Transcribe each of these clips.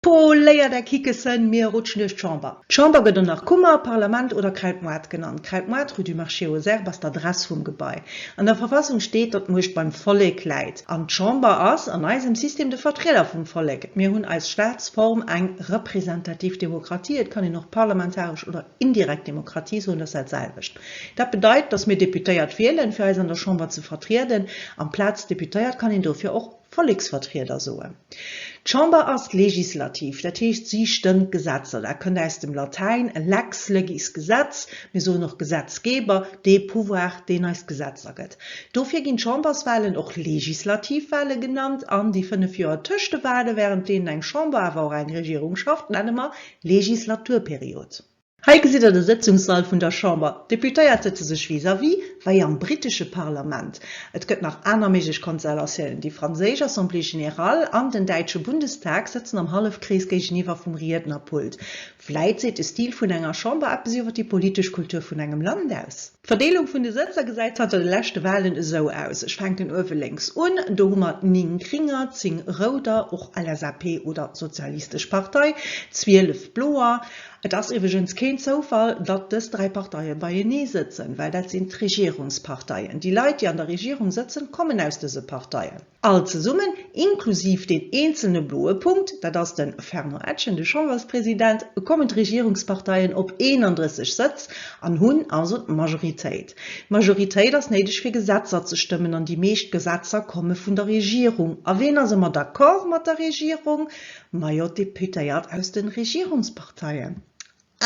Poléiert är Kickessen, mir rutschen duerch d'Chamber. D'Chamber gëtt och nach Kummer, Parlament oder Kräidmoart genannt. Kräidmoart, rue du Marché aux Herbes, ass d'Adress vum Gebai. An der Verfassung steet, datt d'Muecht beim Vollek läit. An d'Chamber ass an eisem System de Vertrieder vum Vollek. Mir hunn eis Staatsform eng representativ Demokratie, et kann een och parlamentaresch oder. Indirekt Demokratie soen, dat ass dat selwecht. Dat bedeit, datt mir Deputéiert wielen, fir eis an der Chamber ze vertrieden. Amplaz Deputéiert kann een dofir och Volleksvertrieder soen. D'Chamber ass legislativ, dat heescht si stëmmt d'Gesetzer. Dat kënnt aus dem Latäin, lex legis Gesetz, mir soen och Gesetzgeber, dee Pouvoir, deen eis d'Gesetzer gëtt. Dofir ginn d'Chamberswalen och legislativ Wale genannt an déi fënnef Joer tëscht de Wale, wärend deenen eng Chamber, awer och eng Regierung schafft, nenne mer Legislaturperiod. Hei gesitt der de Sëtzungssall vun der Chamber. D'Deputéiert sëtze sech vis-à-vis, wei am britesche Parlament. Et gëtt nach aner méiglech Konstellatiounen. Déi franséisch Assemblée générale an den däitsche Bundestag sëtzen am Hallefkrees géigeniwwer vum Riednerpult. Vläit seet de Stil vun enger Chamber eppes iwwer déi politesch Kultur vun engem Land aus. D'Verdeelung vun de Sëtzer gesäit zanter de leschte Walen esou aus, ech fänken uewe lénks un, do hu mer 9 Gringer, 10 Rouder, och LSAP oder Sozialistesch Partei, 12 Bloer. Et ass iwweregens keen Zoufall, datt dës dräi Parteie beienee sëtzen, well dat sinn d'Regierungsparteien. Déi Leit, déi an der Regierung sëtzen, kommen aus dëse Parteien. All zesummen, inklusiv deen eenzelne bloe Punkt, dat ass de Fernand Etgen, de Chamberspresident, kommen d'Regierungsparteien op 31 Sëtz an hunn also d'Majoritéit. D'Majoritéit ass néideg fir Gesetzer ze stëmmen an déi meescht Gesetzer komme vun der Regierung. A ween ass ëmmer d'accord mat der Regierung? Majo, d'Deputéiert aus de Regierungsparteien.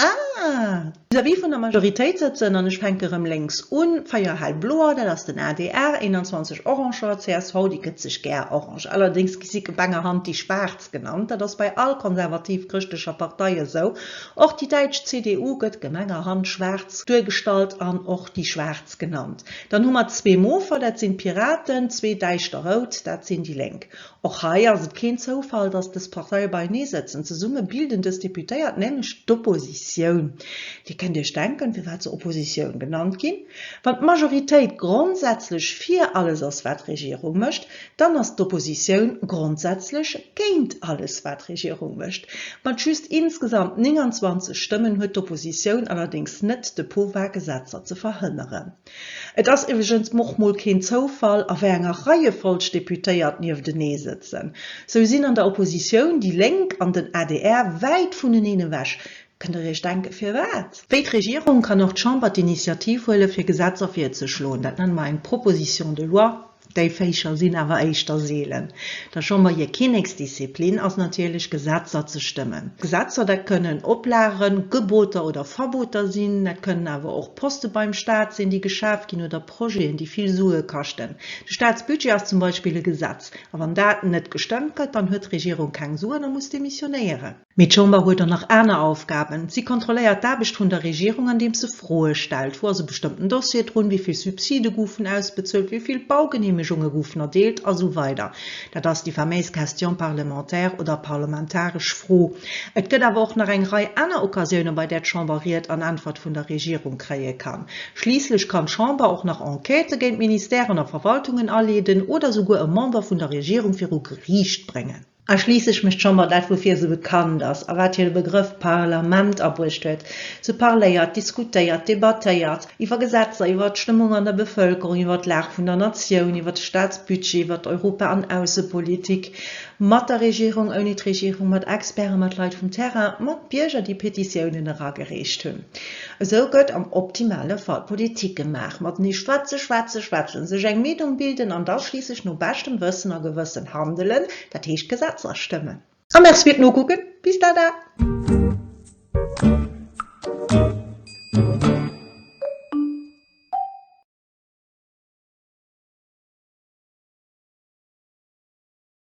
Ah! Vis-à-vis vun der Majoritéit sëtzen, an ech fänke rëm lénks un, véier hellbloer, dat ass den adr, 21 oranger, csv, déi gëtt sech gär orange, allerdéngs gi si gebengerhand déi schwaarz genannt, dat ass bei all konservativ-chrëschtlecher Partei esou, och déi däitsch CDU gëtt gemengerhand schwaarz duergestallt an och déi schwaarz genannt. Dann hu mer zwee mofer, dat sinn d'Piraten, zwee däischter rout, dat sinn déi Lénk. Och hei ass et keen Zoufall, dass dës Parteie beinee sëtzen. Zesumme bilden dës Deputéiert nämlech d'Oppositioun. Dir kënnt Iech denken, firwat se Oppositioun genannt ginn. Wann d'Majoritéit grondsätzlech fir alles ass, wat d'Regierung mécht, dann ass d'Oppositioun grondsätzlech géint alles, wat d'Regierung mécht. Mat just insgesamt 29 Stëmmen huet d'Oppositioun allerdéngs net de Pouvoir, Gesetzer ze verhënneren. Et ass iwweregens och mol keen Zoufall, a wéi enger Reiefolg d'Deputéiert nieftenee sëtzen. Sou sinn an der Oppositioun déi Lénk an den adr wäit vuneneen ewech. Kënnt Der Iech denken, firwat? Wéi d'Regierung kann och d'Chamber d'Initiativ huelen, fir Gesetzer virzeschloen. Dat nenne mer eng Proposition de loi Déi Féischer sinn awer éischter seelen. Der Chamber hir Kinneksdisziplin ass natierlech Gesetzer ze stëmmen. Gesetzer, dat kënnen Oplagen, Geboter oder Verboter sinn. Dat kënnen awer och Poste beim Staat sinn, déi geschaf ginn, oder Projeten, déi vill Sue kaschten. De Staatsbudget ass zum Beispill e Gesetz. A wann dat net gestëmmt gëtt, dann huet d'Regierung keng Suen a muss demissionéieren. Mee d'Chamber huet och nach aner Aufgaben. Si kontrolléiert d'Aarbecht vun der Regierung, andeems se Froe stellt, Wou ass e bestëmmten Dossier drun? Wéi vill Subside goufen ausbezuelt? Wéi vill Baugeneemegunge goufen erdeelt? A sou weider Dat ass déi faméis Question parlementaire oder parlamentaresch Fro. Et gëtt awer och nach eng Rei aner Occasiounen, bei där d'Chamber Ried an Äntwert vun der Regierung kréie kann. Schliisslech kann d'Chamber och nach Enquêtë géint Ministèren a Verwaltungen aleeden oder souguer e Member vun der Regierung viru Geriicht bréngen. A schliisse ech mech d'Chamber dat, woufir esou bekannt ass a wat hire Begrëff Parlament abruecht huet, se parléiert, diskutéiert, debattéiert, iwwer Gesetzer, iwwer d'Stëmmung an der Bevëlkerung, iwwer d'Lag vun der Natioun, iwwer de Staatsbudget, iwwer d'Europa an Aussepolitik, mat der Regierung, ouni d'Regierung, mat Experten, mat Leit vum Terrain, mat Bierger, déi Petitiounen eragereecht hunn. Esou gëtt am optimale Fall Politik gemaach, matenee schwätze, schwätze, schwätzen, sech eng Meenung bilden an da schliisslech no beschtem Wëssen a Gewëssen handelen, dat heescht Gesetzer stëmmen. A Merci fir d'Nokucken. Bis dada!